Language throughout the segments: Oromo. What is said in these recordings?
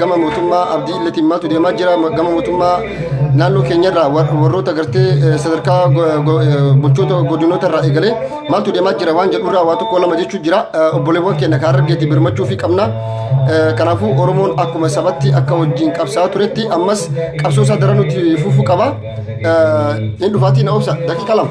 gama mootummaa abdii illatiin maaltu deemaa jira gama mootummaa naannoo keenyarraa warroota gartee sadarkaa bulchoota godinoota irraa eegalee maaltu deemaa jira waan jedhurraa waa tokko lama jechuu jira obboleewwan keenya kan argeetti birmachuu fi qabna kanaafuu oromoon akkuma sabatti akka wajjin qabsaa turetti ammas qabsoo isaa daran nuti fufuu qaba hin dhufaatii na obsa daqiiqa lama.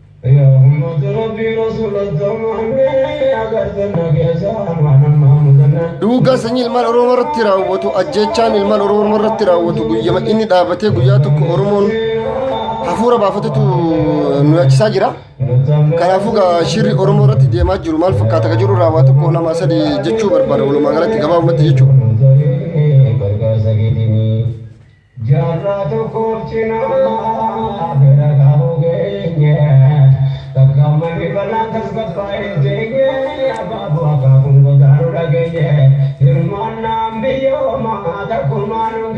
Yaa ummaata Rabbii Rasuulatti amanne agartan na keessa waan ammaa mudanne. Duugaa sanyii ilmaan Oromoo irratti raawwatu ajjeechaan ilmaan Oromoo irratti raawwatu guyyama inni dhaabatee guyyaa tokko Oromoon hafuura baafatetu nu yaachisaa jira. Kanaafuu gaa shirri Oromoo irratti deemaa jiru maal fakkaata ka jiru raawwaa tokko lama sadii jechuu barbaada walumaa galatti gabaabumatti jechuudha. Gargaarsa keetiin Jaarraa tokkoof cinaa bira gahuu geenye Takka ummanni bal'aan tasgabbaa'ee hin teenye Abaaboo akaakuun godaanuu dhageenye Hirmaannaan biyya ormaa takkumaa nun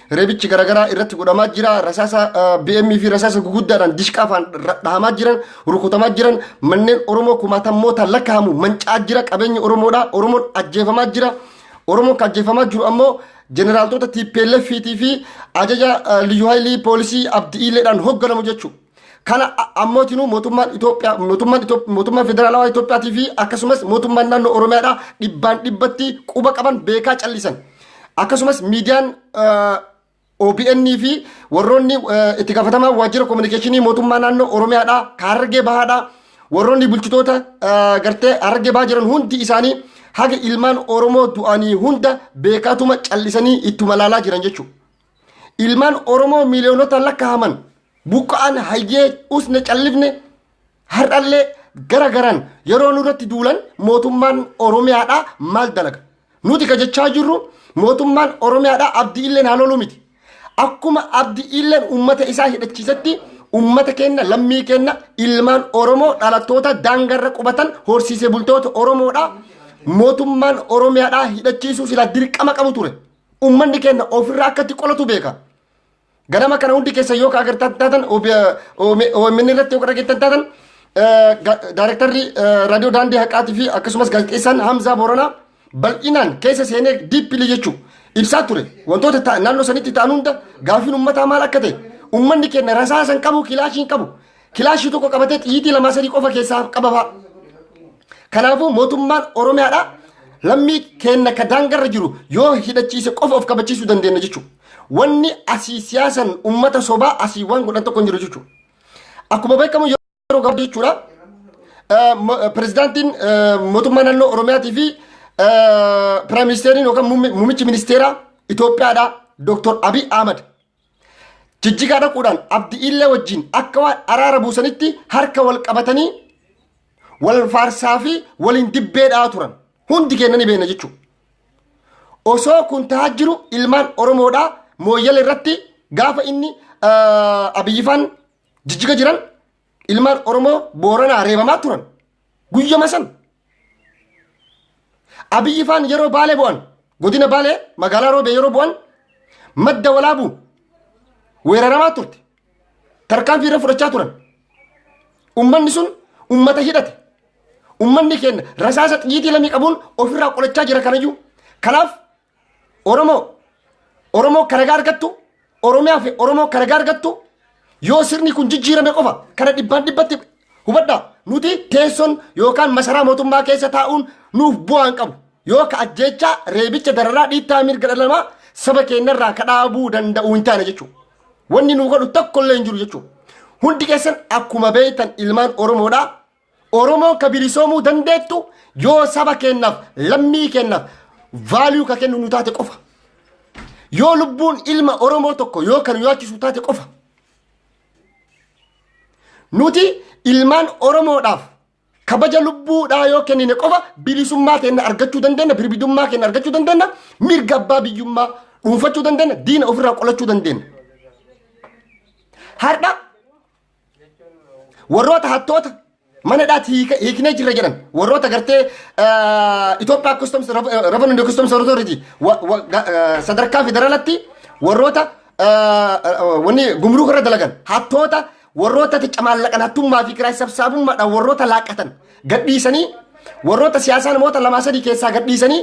Reebichi garaagaraa irratti godhamaa jira. Rasaasa BM fi rasaasa guguddaadhaan dishqaafaan dhahamaa jiran, rukutamaa jiran, manneen Oromoo kumaatammoota lakkaa'amu mancaa jira. Qabeenyi Oromoodha. Oromoon ajjeefamaa jira. Oromoon kan ajjeefamaa jiru ammoo jeneraaltoota TPLF fi ajaja liyyuu haayilii poolisii abdi'iileedhaan hoogganamu jechuudha. Kana ammootinuu mootummaan Itoophiyaa mootummaan Itoophiyaa mootummaan federaalawaa Itoophiyaatii fi akkasumas mootummaan naannoo Oromiyaadhaa dhibbaan dhibbatti quba qaban beekaa callisan. Akkasumas miidiyaan OBN fi warroonni itti gaafatamaa waajjira kominikeeshinii mootummaa naannoo Oromiyaadhaa Harargee Bahaadhaa warroonni bulchitoota gartee Harargee Bahaa jiran hundi isaanii haga ilmaan Oromoo du'anii hunda beekaatuma callisanii ittuma laalaa jiran jechuudha. Ilmaan Oromoo miiliyoonota lakkaa'aman buqqa'an hayyee usne callifne har'allee gara garaan yeroo nurratti duulan mootummaan Oromiyaadhaa maal dalaga? Nuti ka jechaa jirru mootummaan Oromiyaadhaa abdii illee haa loluu miti. Akkuma abdii illeen uummata isaa hidhachiisetti uummata keenya lammii keenya ilmaan Oromoo dhalattoota daangarra qubatan horsiisee bultoota Oromoodhaa mootummaan Oromiyaadhaa hidhachiisuu silaa dirqama qabu ture. Uummanni keenya ofirraa akka itti qolatu beeka. Ganama kana hundi keessa yoo ka agartan taatan OMN irratti yoo ka dhageettan taatan daayirektarri raadiyoo daandii haqaatii fi akkasumas gaazexeessaan Hamzaa Booranaa bal'inaan keessa seenee diippilii jechuun ibsaa ture. Wantoota naannoo sanitti ta'an hunda gaafiin uummataa maal akka ta'e uummanni keenya rasaasan qabu kilaashiin qabu Kilaashii tokko qabatee xiyyiitii lamaa sadii qofa keessaa qaba fa'a. Kanaafuu mootummaan Oromiyaadhaa lammii keenna ka daangarra jiru yoo hidhachiise qofa of kabachiisuu dandeenya jechuudha. Wanni asii siyaasan uummata sobaa asii waan godhan tokko hin jiru jechuudha. Akkuma beekamu yeroo gabaabaa jechuudha. eh, mo- eh, Pirezidaantiin eh, mootummaa naannoo Oromiyaatii fi eh, Piraayim Ministeeriin yookaan muummi- muummichi ministeeraa Itoophiyaadhaa Dooktor Abiy Ahmad Jijjigaa dhaquudhaan Abdi'illee wajjin akka waan araara buusanitti harka wal qabatanii wal faarsaa fi waliin dibbee dha'aa turan. Hundi keenya ni beekna jechuudha. Osoo kun ta'aa jiru ilmaan Oromoodhaa mooyyala irratti gaafa inni abiyyifaan jijjiga jiran ilmaan Oromoo Booranaa reebamaa turan. Guyyama san. Abiyyi faan yeroo baalee bu'an godina baalee magaalaa roobee yeroo bu'an madda walaabuu weeraramaa turte. Tarkaanfii irra fudhachaa turan. Ummanni sun ummata hidhate. Ummanni keenya rasaasa xiyyiitii lamii qabuun ofirraa qolachaa jira kanayyuu. Kanaaf Oromoo Oromoo akka ragaa argattu Oromiyaa fi Oromoo akka ragaa argattu yoo sirni kun jijjiirame qofa kana dhibbaan dhibbatti hubadha nuti teessoon yookaan masaraa mootummaa keessa taa'uun nuuf bu'aan qabu yoo ka ajjeechaa reebicha dararaa dhiittaa mirga dhala namaa saba keenyarraa ka dhaabuu danda'u hin taane jechuudha. Wanni nu godhu tokko illee hin jiru jechuudha. Hundi keessan akkuma beektan ilmaan Oromoodhaa Oromoon ka bilisoomuu dandeettu yoo saba keennaaf lammii keennaaf vaaliyuu ka kennu nu taate qofa. Yoo lubbuun ilma Oromoo tokko yoo kan nu yaachisu taate qofa. Nuti ilmaan Oromoodhaaf kabaja lubbuudhaa yoo kennine qofa bilisummaa keenya argachuu dandeenya, birbidummaa keenya argachuu dandeenya, mirga abbaa biyyummaa dhuunfachuu dandeenya, diina ofirraa qolachuu dandeenya. Har'a warroota hattoota mana hidhaatti hiika- hiiknee jirra jedhan warroota gartee Itoophiyaa Customs Revenue Customs Authority wa- wa- ga- eh, sadarkaa federaalatti warroota eh, eh, wanni gumruuka irra dalagan hattoota warroota ticca maallaqan hattummaa fi kiraay sabsaabummaadhaan warroota laaqatan gadhiisanii warroota siyaasaa namoota lamaa sadii keessaa gadhiisanii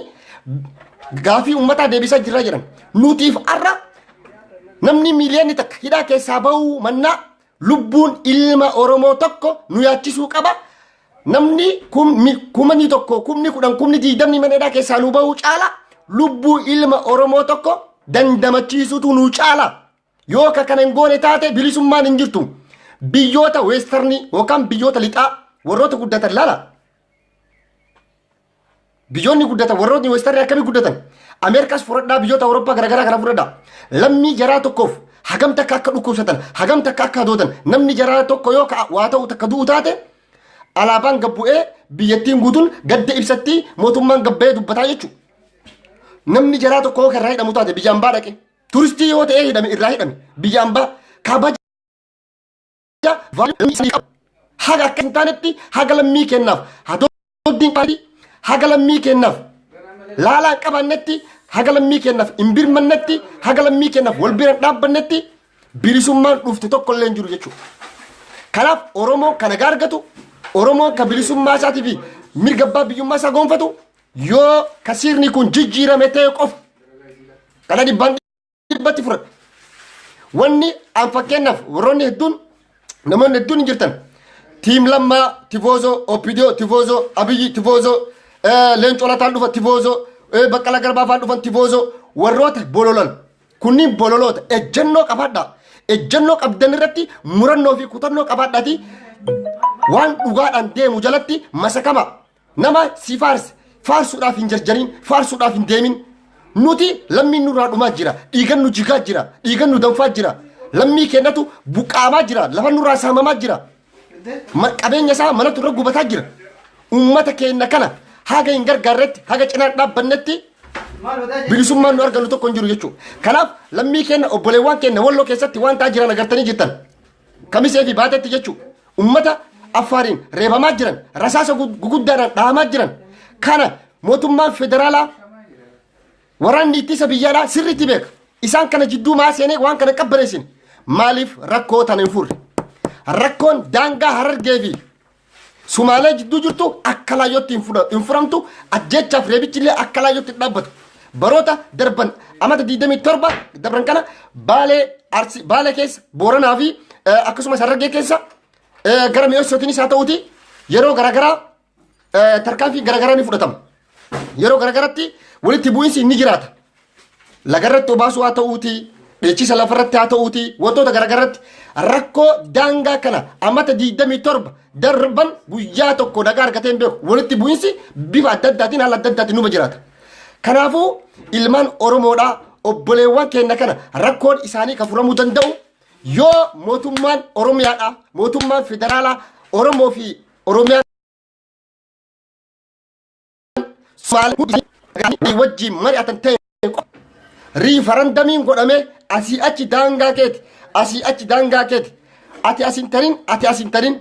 gaafii uummataa deebisaa jirra jedhan. Nutiif har'a namni miiliyoonni takka hidhaa keessaa ba'uu mannaa lubbuun ilma Oromoo tokko nu yaachisuu qaba. Namni kumni tokko kumni kudhan kumni diigdamni mana hidhaa keessaa nu ba'uu caala lubbuu ilma Oromoo tokko dandamachiisutu nu caala. Yoo ka kana hin goone taate bilisummaan hin jirtu. Biyyoota weestarnii yookaan biyyoota lixaa warroota guddatan laala. Biyyoonni guddatan warroonni weestarnii akkamii guddatan? Ameerikaas fudhadhaa biyyoota Awurooppaa garaagaraa kana fudhadhaa. Lammii jaraa tokkoof hagam takka akka dhukkubsatan, hagam takka akka hadoodan, namni jaraa tokko yoo ka- waa ta'u takka du'u taate alaabaan gad bu'ee biyyattiin guutuun gadda ibsattii mootummaan gabbayee dubbataa jechuudha. Namni jaraa tokko yoo kan irraa hidhamu taate biyya ambaa dhaqe. Turistii yoo ta'ee hidhame irraa hidhame biyya ambaa kabaja vaayirasii isaanii qabu. Haga akka hin taanetti haga lammii kennaaf hadooddiin qabaadhi haga lammii kennaaf laalaa hin qabaannetti haga lammii kennaaf hin birmannetti haga lammii kennaaf wal bira hin dhaabbannetti bilisummaan dhufte tokko illee hin jiru jechuudha. Kanaaf Oromoon kana gaargatu Oromoon kan bilisummaa isaatii fi mirga abbaa biyyummaa isaa gonfatu Yoo ka sirni kun jijjiirame ta'e qofa dhala dhibbaan dhibbatti fura. Wanni an fakkeenyaaf warroonni hedduun namoonni hedduun hin jirtan. Tiim Lammaa, Tifoozoo, Opidiyoo, Tifoozoo, Abiyyi, Tifoozoo, Leencoo Lataan dhufa, Tifoozoo, Baqqala Garbaa fa'aa dhufan, Tifoozoo, warroota bololan. Kunniin bololoota. Ejjennoo qabaadhaa. Ejjennoo qabdan irratti murannoo fi kutannoo qabaadhaati. Waan dhugaadhaan deemu jalatti masakama. Nama si faarse faarsuudhaaf hin jarjariin faarsuudhaaf hin deemin. Nuti lammiin nurraa dhumaa jira. Dhiigan nu jigaa jira. Dhiigan nu danfaa jira. Lammii kennatu buqqaamaa jira. Lafa nurraa saamamaa jira. Ma- Qabeenya isaa manatu irra gubataa jira. Uummata keenya kana haga hin gargaarretti haga cinaa dhaabbannetti bilisummaan nu argannu tokko hin jiru jechuudha. Kanaaf lammii keenya obboleewwan keenya walloo keessatti waan ta'aa jiran agartanii jirtan. Kamisee fi baatetti jechuun uummata affaariin reebamaa jiran rasaasa guguddaadhaan dhahamaa jiran kana mootummaan federaalaa waraanni ittisa biyyaalaa sirriitti beeka. Isaan kana jidduu maa seenee waan kana qabbaneessin maaliif rakkoo tana hin furre? Rakkoon daangaa harargee fi Sumaalee jidduu jirtu akka laayyootti hin fudha- hin furamtu ajjeechaaf reebichi illee akka laayyootti hin dhaabbatu. Baroota darban amata 27 dabran kana baalee arsi baalee keessa booranaa fi eh, akkasumas harargee keessa eh, gara mi'eessootiinis haa ta'uuti yeroo garaagaraa eh, tarkaanfii garaagaraa ni fudhatama. Yeroo garagaratti walitti bu'iinsi inni jiraata. Lagarratti obaasuu haa ta'uutii, dheechisa lafarratti haa ta'uutii, wantoota garagaratti rakkoo daangaa kana amata 27 darban guyyaa tokko nagaa argatee hin beeku. Walitti bu'iinsi bifa adda addaatiin haala adda addaatiin numa jiraata. Kanaafuu ilmaan Oromoodhaa obboleewwan keenya kana rakkoon isaanii kan furamuu danda'u yoo mootummaan Oromiyaadhaa mootummaan federaalaa Oromoo fi Oromiyaa Somaaliyaa hundi isaanii wajjin mari'atan ta'e riifarandamiin godhamee asii achi daangaa keeti asii achi daangaa keeti ati asin tarin ati asin tarin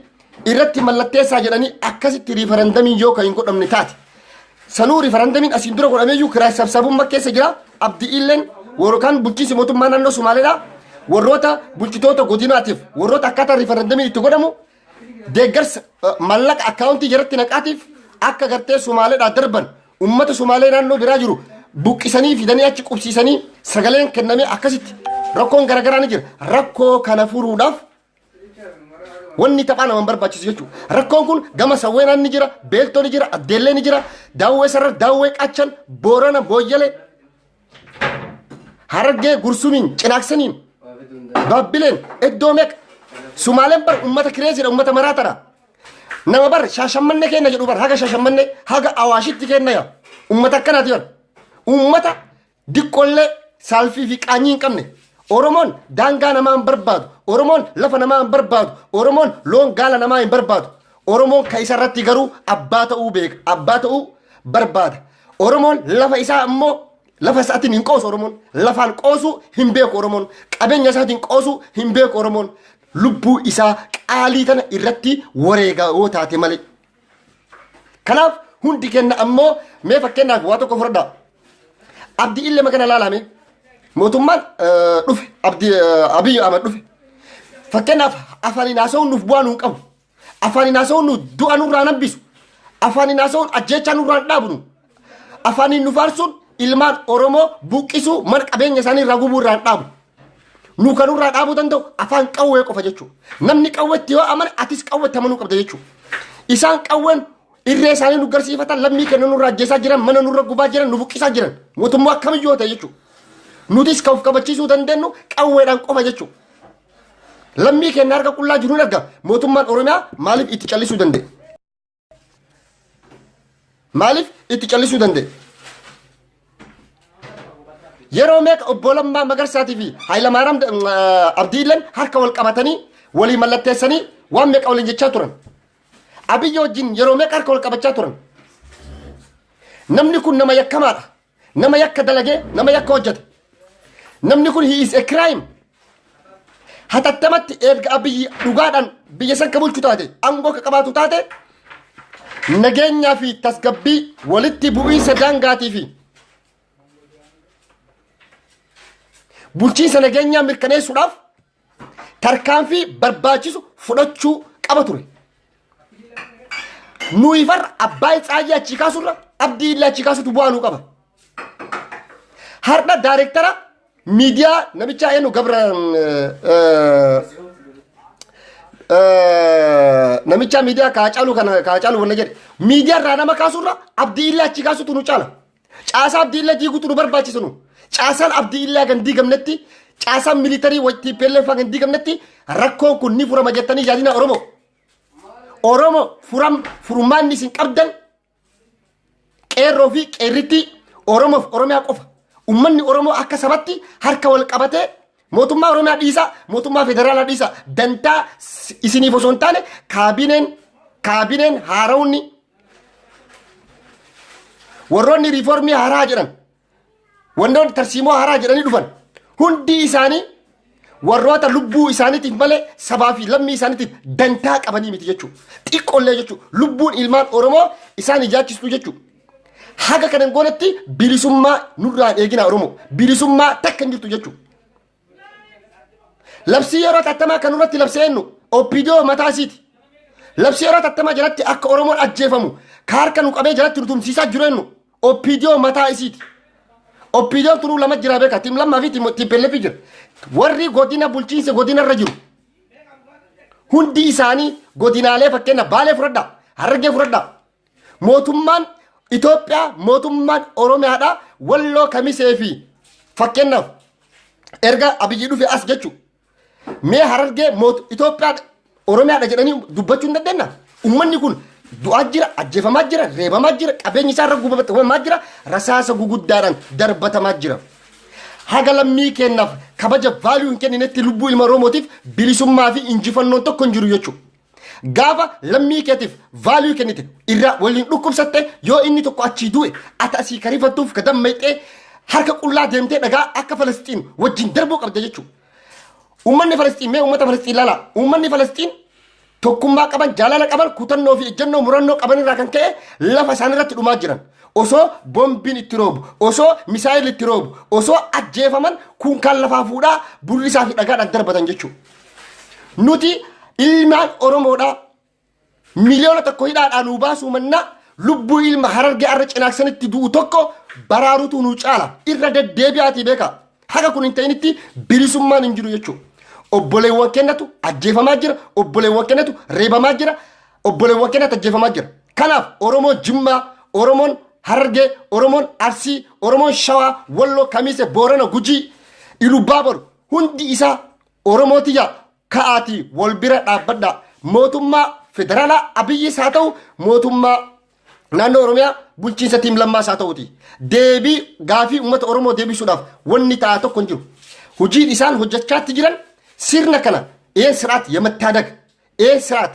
irratti mallatteessaa jedhanii akkasitti riifarandamiin yoo kan hin godhamne taate sanuu riifarandamiin asiin dura godhameeyyuu kiraa sabsabummaa keessa jira abdi illeen warrokaan bulchiinsi mootummaa naannoo Somaaliyaa warroota bulchitoota godinaatiif warroota akkaataa riifarandamiin itti godhamu deeggarsa mallaqa akkaawuntii jaratti naqaatiif akka gartee Somaaleedhaa darban uummata Somaalee naannoo biraa jiru buqqisanii fidanii achi qubsiisanii sagaleen kennamee akkasitti rakkoon garaagaraa ni jira. Rakkoo kana furuudhaaf wanni taphaa nama barbaachisu jechuudha. Rakkoon kun gama sawweenaan ni jira, beeltoo ni jira, addeellee ni jira, daawwee sarara, daawwee qachan, boorana, booyyalee, Harargee gursumiin cinaaksaniin baabbileen iddoo meeqa sumaaleen bar ummata kireesiidha ummata maraatadha nama bar shaashammanne kenna jedhu bar haga shaashammanne haga awaashitti kenna yaa ummata akkanaati bar ummata diqqollee saalfii fi qaanyii hin qabne oromoon daangaa namaa hin barbaadu oromoon lafa namaa hin barbaadu oromoon loon gaala namaa hin barbaadu oromoon ka isa irratti garuu abbaa ta'uu beeka abbaa ta'uu barbaada Oromoon lafa isaa ammoo lafa isaatiin hin qoosu Oromoon. Lafaan qoosuu hin beeku Oromoon. Qabeenya isaatiin qoosuu hin beeku Oromoon. Lubbuu isaa qaalii tana irratti wareegaa yoo taate malee. Kanaaf hundi kenna ammoo mee fakkeenyaaf waa tokko fudhadhaa. Abdi illee makana laalame. Mootummaan eh, dhufe. Abdi eh, Abiy Ahmed dhufe. Fakkeenyaaf afaniin haasa'uun nuuf bu'aa nuun qabu. Afaan inaasa'uun nu du'a nurraa nambisu. Afaan inaasa'uun ajjeechaa nurraa dhaabnu. Afaaniin nu faarsuun ilmaan Oromoo buqqisuu mana qabeenya isaanii irraa gubuu irraa dhaabu. Nu kan nurraa dhaabuu danda'u afaan qawwee qofa jechuudha. Namni qawweetti yoo amane atis qawweetti amanuu qabda jechuudha. Isaan qawween irree isaanii nu garsiifatan lammii kenna nurraa ajjeesaa jiran mana nurra gubaa jiran nu buqqisaa jiran mootummaa akkamiyyuu ta'e jechuudha. Nutis kan of kabachiisuu dandeenyu qawweedhaan qofa jechuudha. Lammii keenya harka qullaa jiruun arga mootummaan Oromiyaa maaliif itti callisuu danda'e? Maaliif itti callisuu danda'e? Yeroo meeqa obbo Lammaa Magarsaatii fi Hayilamaaraam Abdiilleen harka wal qabatanii walii mallatteessanii waan meeqa waliin jechaa turan. Abiyyi wajjin yeroo meeqa harka wal qabachaa turan. Namni kun nama yakkamaadha. Nama yakka dalagee nama yakka hojjete. Namni kun he is a crime. Hatattamatti erga abiyyi dhugaadhaan biyya san ka bulchu taate aangoo ka qabaatu taate nageenyaa fi tasgabbii walitti bu'iinsa daangaatii fi bulchiinsa nageenyaa mirkaneessuudhaaf tarkaanfii barbaachisu fudhachuu qaba ture. Nuyi farra abbaa Tsaayyee achii kaasurra abdii illee achii kaasutu bu'aa nuu qaba. Har'a daayirektara miidiyaa namichaa eenyu gabra namichaa miidiyaa kaacaaluu kana kaacaaluu wanna jedhe miidiyaa irraa nama kaasurra abdii illee achii kaasutu nu caala. Caasaa abdii illee diiguutu nu barbaachisa nu. Caasaan abdii illee hagan diigamnetti caasaan militarii wajjin PLF hagan diigamnetti rakkoon kun ni furama jettanii yaadina Oromoo. Oromoo furam furmaanni isin qabdan qeerroo fi qeerrittii Oromoof Oromiyaa qofa. Uummanni Oromoo akka sabatti harka wal qabatee Mootummaa Oromiyaa dhiisaa, mootummaa federaalaa dhiisaa, dantaa s- isiniif osoo hin taane kaabineen kaabineen haarawni warroonni riifoormii haaraa jedhan wantoonni tarsiimoo haaraa jedhanii dhufan hundi isaanii warroota lubbuu isaaniitiif malee sabaa fi lammii isaaniitiif dantaa qabanii miti jechuudha. Xiqqoollee jechuudha. Lubbuun ilmaan Oromoo isaan ijaachistu jechuudha. Haga kana hin goonetti bilisummaa nurraa hin eeginaa Oromoo. Bilisummaa takka hin jirtu jechuudha. Labsii yeroo tattamaa kan irratti labsee ennu OPDO mataa isiiti. Labsii yeroo tattamaa jalatti akka Oromoon ajjeefamu ka harka nu qabee jalatti nu tumsiisaa jiru ennu OPDO mataa isiiti. OPDO tunuu lama jira beeka tiim lammaa fi tiimpellefi jira. Warri godina bulchiinsa godina irra jiru. Hundi isaanii godinaalee fakkeenya baalee fudhadhaa harargee fudhadhaa Mootummaan Itoophiyaa mootummaan Oromiyaadha walloo kamisee fi fakkeenyaaf erga abiyyi dhufe as jechu mee harargee moot Itoophiyaa Oromiyaadha jedhanii dubbachuu hin dandeenya. Uummanni kun du'aa jira, ajjeefamaa jira, reebamaa jira, qabeenyi isaa irra gubamaa jira, rasaasa guguddaadhaan darbatamaa jira. Haga lammii keenyaaf kabaja vaaluu hin kenninetti lubbuu ilma Oromootiif bilisummaa fi injifannoon tokko hin jiru jechuudha. Gaafa lammii keetiif vaaluu kennite irraa waliin dhukkubsatte yoo inni tokko achii du'e ati asii karifattuuf ka dammayxee harka qullaa deemtee dhagaa akka Falasxiin wajjin darbuu qabda jechuudha. Uummanni Falasxiin mee uummata Falasxiin laala. Uummanni Falasxiin tokkummaa qaban, jaalala qaban, kutannoo fi ejjennoo murannoo qaban irraa kan ka'e lafa isaan irratti dhumaa jiran. Osoo boombiin itti roobu, osoo misaayil itti roobu, osoo ajjeefaman kuunkaan lafaa fuudhaa bullisaa fi dhagaadhaan darbatan jechuudha. Nuti ilmaan Oromoodhaa miliyoona tokko hidhaadhaa nuu baasuu mannaa lubbuu ilma harargee arra cinaaksanitti du'u tokko baraarutu nuu caala irra deddeebi'aatii beekaa. Haga kun hin ta'initti bilisummaan hin jiru jechuudha. Obboleewwan kennatu ajjeefamaa jira, obboleewwan kennatu reebamaa jira, obboleewwan kennatu ajjeefamaa jira. Kanaaf Oromoo Jimmaa, Oromoon Harargee, Oromoon Arsii, Oromoon Shawaa, Walloo, Kamiise, Boorana, Gujii, Ilubaaboru Hundi isaa Oromoo tiyya ka'aatii wal bira dhaabbadha. Mootummaa federaalaa Abiyyis haa ta'u mootummaa naannoo Oromiyaa bulchiinsa tiim lammaas haa ta'uti. Deebii gaafii uummata Oromoo deebisuudhaaf wanni ta'a tokko hin jiru. Hojiin isaan hojjechaatti jiran sirna kana een siraat yamattaadaga een siraat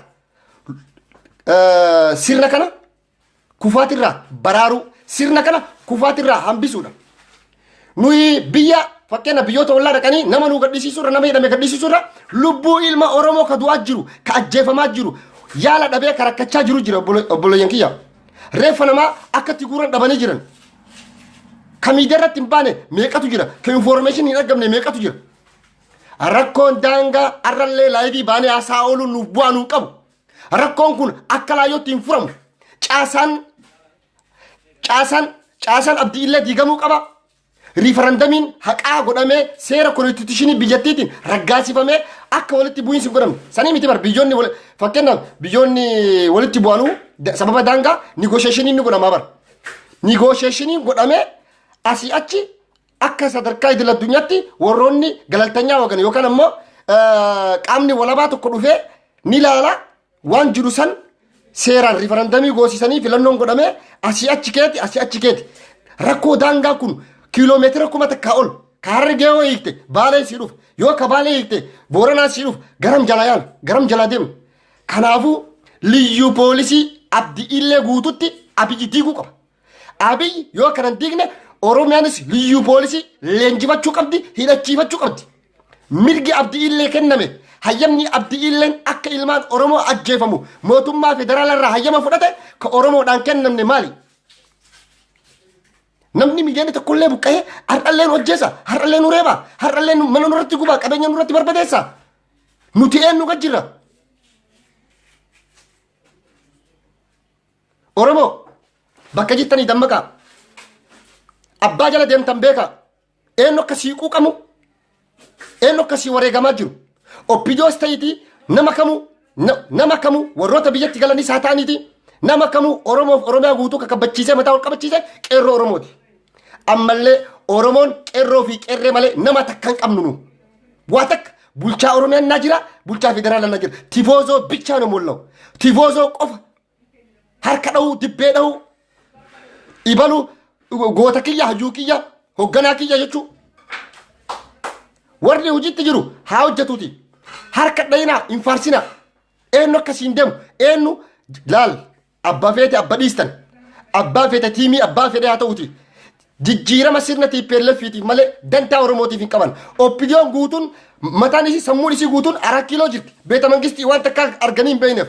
sirna kana kufaatirraa baraaruu sirna kana kufaatirraa hambisuudha. Nuyi biyya fakkeenya biyyoota ollaa dhaqanii nama nu gadhisiisuurra nama hidhame gadhisiisuurra lubbuu ilma Oromoo ka du'aa jiru ka ajjeefamaa jiru yaala dhabee ka rakkachaa jiru jira obboleeyyan kiyya. Reeffa namaa akkatti guuran dhabanii jiran. Ka miidiyaa irratti hin baane meeqatu jira ka infoormeeshin hin argamne meeqatu jira. Rakkoon daangaa arrallee laayivii baanee haasaa ooluun nuuf bu'aa nuun qabu. Rakkoon kun akka laayyootti hin furamu. Caasaan caasaan caasaan abdii illee diigamuu qaba. Riifarandamiin haqaa godhamee seera konstituushinii biyyattiitiin raggaasifamee akka walitti bu'iinsi hin godhamne. Sanii miti bar biyyoonni wal- fakkeenyaaf biyyoonni walitti bu'anuu da- sababa daangaa nigoosheeshiniin ni godhamaa bar. Nigoosheeshiniin godhamee asii achi Akka sadarkaa idil addunyaatti warroonni galaltanyaa wagan yookaan ammoo qaamni walabaa tokko dhufee ni laala waan jiru san seeraan rifarandamii goosisanii filannoon godhamee asii achi keeti asii achi keeti. Rakkoo daangaa kun kiiloo meetira kuma takkaa ol ka harargee yoo hiikte baalee sii dhufa yoo ka baalee hiikte booranaa sii dhufa garam jalaa yaala garam jalaa deema. Kanaafuu liyyuu poolisii abdi illee guututti abiyyi diiguu qaba. Abiy yoo kana hin diigne Oromiyaanis liyyuu poolisii leenjifachuu qabdi, hidhachiifachuu qabdi. Mirgi abdiillee kenname hayyamni abdiilleen akka ilmaan Oromoo ajjeefamu mootummaa federaalaa irraa hayyama fudhate ka Oromoodhaan kennamne maali? Namni miiliyoona tokkollee buqqa'ee har'allee nu ajjeesa, har'allee nu reeba, har'allee nu- mana nurratti gubaa, qabeenya nurratti barbadeessa. Nuti eenyu gad jirra? Oromoo bakka jirtanii dammaqaa. Abbaa jala deemtan beekaa. Eenyu akka sii quuqamu, eenyu akka sii wareegamaa jiru. Oppijoos ta'iitii nama kamuu, na- nama kamuu warroota biyyatti galanis haa ta'aniitii nama kamuu Oromoof Oromiyaa guutuu kakabbachiisee mataa ol qabachiise qeerroo Oromooti. Ammallee Oromoon qeerroo fi qeerree malee nama takka hin qabnu nu. Waa takka bulchaa Oromiyaan naa jira, bulchaa federaalaa naa jira. Tifoozoo bichaa nu mul'au. Tifoozoo qofa harka dhahuu dibbee dhahuu ibalu goota kiyya hayyuu kiyya hogganaa kiyya jechuu warri hojiitti jiru haa hojjetuuti harka dhayinaa hin faarsinaa eenyu akka siin deemu eenyu laal abbaa feete abba dhiistan abbaa feete tiimii abbaa fedhe haa ta'uuti jijjiirama sirna tiippeellefiitiif malee dantaa oromootiif hin qaban oppidiyoon guutuun mataan isii sammuun isii guutuun araa kiiloo jirti beeta mangistii waan takka arganii hin beekneef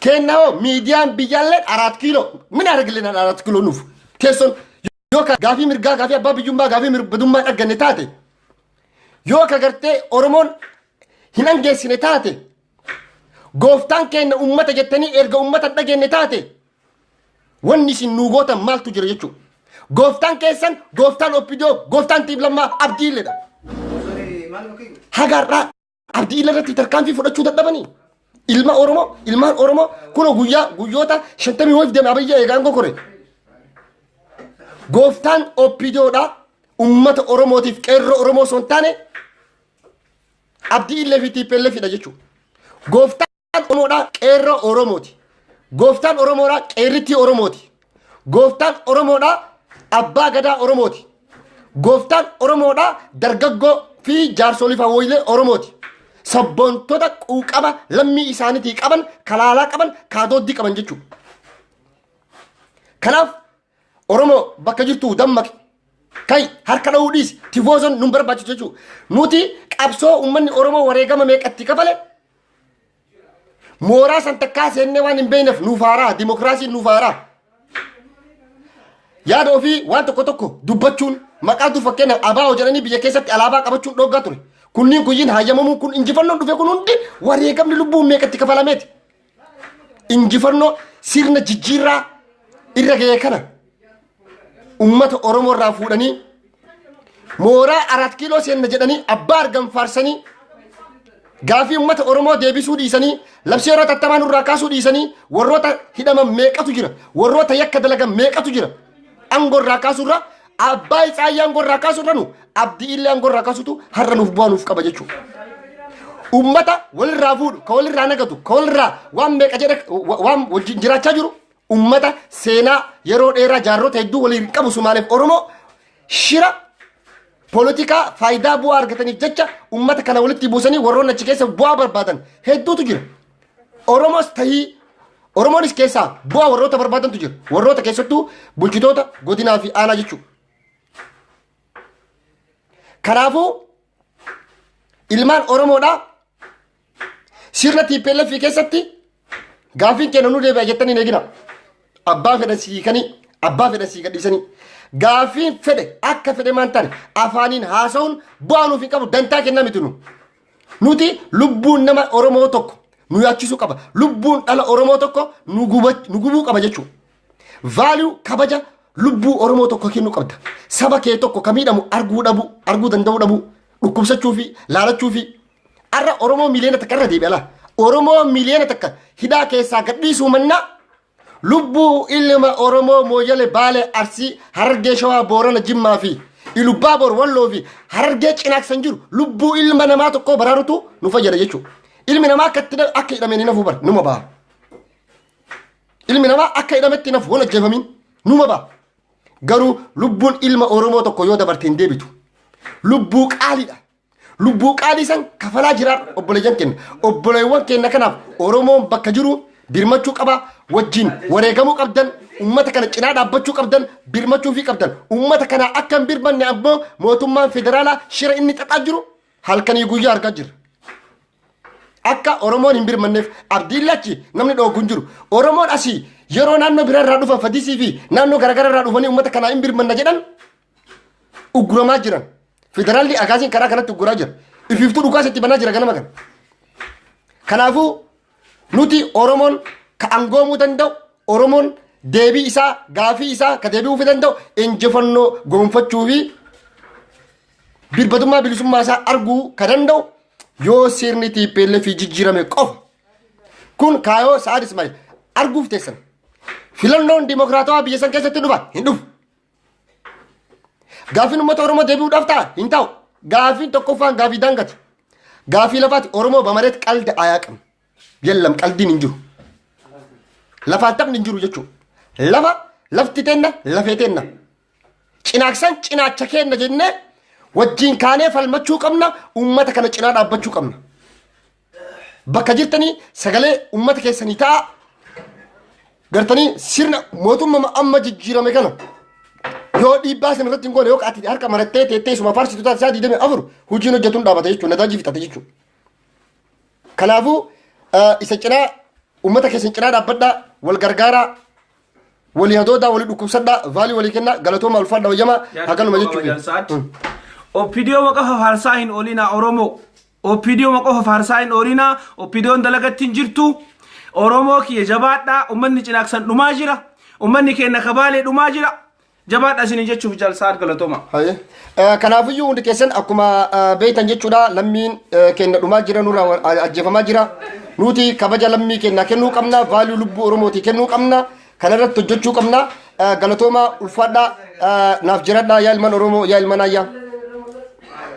Keenna hoo miidiyaan biyyaallee araat kiiloo min argilinaan araat kiiloo nuuf teessoon yoo ka gaafii mirgaa gaafii abbaa biyyummaa gaafii mirbadummaa dhagganne taate yoo ka gartee Oromoon hin angeessine taate gooftaan keenna ummata jettanii erga ummata dhageenne taate wanni isin nuu gootan maaltu jira jechuudha. Gooftaan keessan gooftaan oppidoo gooftaan tiiblammaa abdiilleedha. Hagaarraa Abdii irratti tarkaanfii fudhachuu dadhabanii ilma Oromoo ilmaan Oromoo kunoo guyyaa guyyoota shantamii wayif deeme abayyaa eegaan gokore. Gooftaan oppidoodha ummata Oromootiif qeerroo Oromoo osoo hin taane abdii illee fi tiippeellee fidha jechuudha. Gooftaan Gooftaan Oromoodhaa qeerroo Oromooti. Gooftaan Oromoodhaa qeerrittii Oromooti. Gooftaan Oromoodhaa abbaa gadaa Oromooti. Gooftaan Oromoodhaa dargaggoo fi jaarsolii fawwoilee Oromooti. Sabboontota quuqama lammii isaaniitii qaban, kalaalaa qaban, kaadooddii qaban jechuudha. Kanaaf Oromoo bakka jirtu dammaqi. Kai harka dha'uu dhiisi. Tifoozoon nun barbaachisu jechuudha. Nuti qabsoo uummanni Oromoo wareegama meeqatti kafale mooraa san takkaa seennee waan hin beekneef nuuf haaraa dimokiraasiin nuuf haaraa. Yaada ofii waan tokko tokko dubbachuun maqaa dur fakkeenyaaf abaa'oo jedhanii biyya keessatti alaabaa qabachuun dhooggaa ture. Kunniin kunniin hayyamamuun kun injifannoon dhufe kun hundi wareegamni lubbuun meeqatti kafalameeti. injifannoo sirna jijjiirraa irra ga'e kana ummata Oromoo irraa fuudhanii mooraa arat kiiloo seenna jedhanii abbaa argan faarsanii gaafii ummata Oromoo deebisuu dhiisanii labsii yeroo tattamaa nurraa kaasuu dhiisanii warroota hidhaman meeqatu jira warroota yakka dalagan meeqatu jira angoo irraa kaasuu irraa Abbaa Itsaayyaa aangoo irraa kaasuu irra nu abdii illee aangoo irraa kaasutu har'a nuuf bu'aa nuuf qaba jechuudha. Uummata walirraa fuudhu, ka walirraa nagatu, ka walirraa waan meeqa jedha waan wajjin jiraachaa jiru uummata seenaa yeroo dheeraa jaarrota hedduu waliin qabu Sumaaleef Oromoo shira poolitikaa faayidaa bu'aa argataniif jecha uummata kana walitti buusanii warroonni achi keessa bu'aa barbaadan hedduutu jira. Oromos tahii Oromoonis keessaa bu'aa warroota barbaadantu jira. Warroota keessattuu bulchitoota godinaa fi aanaa jechuudha. Kanaafuu ilmaan Oromoodhaa sirna TPLF keessatti gaafiin keenya nu deebi'a jettanii hin eegina. Abbaa fedhan si hiikanii, abbaa fedhan si gadhiisanii. Gaafiin fedhe akka fedhe maan taane afaaniin haasa'uun bu'aa nuuf hin qabu dantaa kennaa miti nu. Nuti lubbuun nama Oromoo tokko nu yaachisuu qaba. Lubbuun dhala Oromoo tokko nu guba- nu gubuu qaba jechuudha. Vaaluu kabaja lubbuu Oromoo tokko kennuu qabda. Saba kee tokko ka miidhamu arguu dhabuu, arguu danda'uu dhabuu, dhukkubsachuu fi laalachuu fi har'a Oromoo miliyoona takka irra deebi'a laa. Oromoo miliyoona takka hidhaa keessaa gadhiisuu mannaa Lubbuu ilma Oromoo Mooyale Baalee Arsii Harargee Shawaa Boorana Jimmaa fi Ilubbaa Boor Walloo fi Harargee Cinaaksan jiru lubbuu ilma namaa tokkoo baraarutu nu fayyada jechuudha. Ilmi namaa akka itti hidha- akka hidhameen hin hafu bara numa baha. Ilmi namaa akka hidhametti hin hafu waan ajjeefamiin numa baha. Garuu lubbuun ilma Oromoo tokko yoo dabarte hin deebitu. Lubbuu qaaliidha. Lubbuu qaalii san kafalaa jira obboleeyyan keenya. Obboleewwan keenya kanaaf Oromoon bakka jiru birmachuu qaba wajjin wareegamuu qabdan ummata kana cinaa dhaabbachuu qabdan birmachuu fi qabdan ummata kana akka hin birmanne ammoo mootummaan federaalaa shira inni xaxaa jiru halkanii guyyaa argaa jira. akka oromoon hin birmanneef abdiin lachi namni dhoogu hin jiru oromoon asii yeroo naannoo biraa irraa dhufan fadisii fi naannoo garaagaraa irraa dhufanii uummata kanaa hin birmanna jedhan ugguramaa jiran federaalli akaasiin karaa kanatti ugguraa jira ifiiftuu dhukaas itti banaa jira ganama kana kanaafuu nuti oromoon ka angoomuu danda'u oromoon deebii isaa gaafii isaa ka deebi'uufi danda'u injifannoo goonfachuu fi birbadummaa bilisummaa isaa arguu ka danda'u yoo sirni tiippeellee fi jijjiirame qofa kun kaayoo sa'aad ismaa'il arguuf teessan filannoon dimokiraatawaa biyya san keessatti dhufa hin dhufu Gaafiin uummata Oromoo deebi'uudhaaf ta'a hin ta'u. Gaafiin tokkoffaan gaafii daangati. Gaafii lafaati Oromoo bamareet qalda ayaa qabna. Yellam qaldiin hin jiru. Lafaan taphni hin jiru jechuudha. Lafa lafti teenna lafee teenna. Cinaaksan cinaacha keenna jennee wajjin kaanee falmachuu qabna uummata kana cinaa dhaabbachuu qabna. bakka jirtanii sagalee ummata keessanii ta'a gartanii sirna mootummaa amma jijjiirame kana yoo dhiibbaa sana irratti hin goone yoo ati harka marattee teettee suma faarsitu taate isaa digdamii afur hojiin hojjetuun dhaabata jechuudha nadaajii fixate jechuudha. Kanaafuu isa cinaa ummata keessan cinaa dhaabbadhaa wal gargaaraa Walii hadoodaa walii dhukkubsadhaa vaalii walii kennaa galatooma ulfaadha wayyamaa hakanuma jechuudha. Opidiyoo waqa fafaarsaa hin oolinaa Oromoo. Opidiyoo waqa fafaarsaa hin oolinaa. Opidiyoon dalagatti hin jirtu. Oromoo kiyya jabaadhaa. Ummanni cinaaksan dhumaa jira. Ummanni keenya kabaalee dhumaa jira. Jabaadha isin jechuuf jaal sa'aad galatoma. Haye. Eh, Kanaafiyyuu hundi keessan akkuma eh, beektan jechuudha lammiin eh, keenya dhumaa jira nurraa wa- a- ajjeefamaa jira. Nuti kabaja lammii keenya kennuu qabna, vaaluu lubbuu Oromootii kennuu qabna, kana irratti hojjechuu qabna. Eh, Galatooma ulfaadhaa eh, naaf jiradhaa yaa ilman Oromoo yaa ilman ayyaa.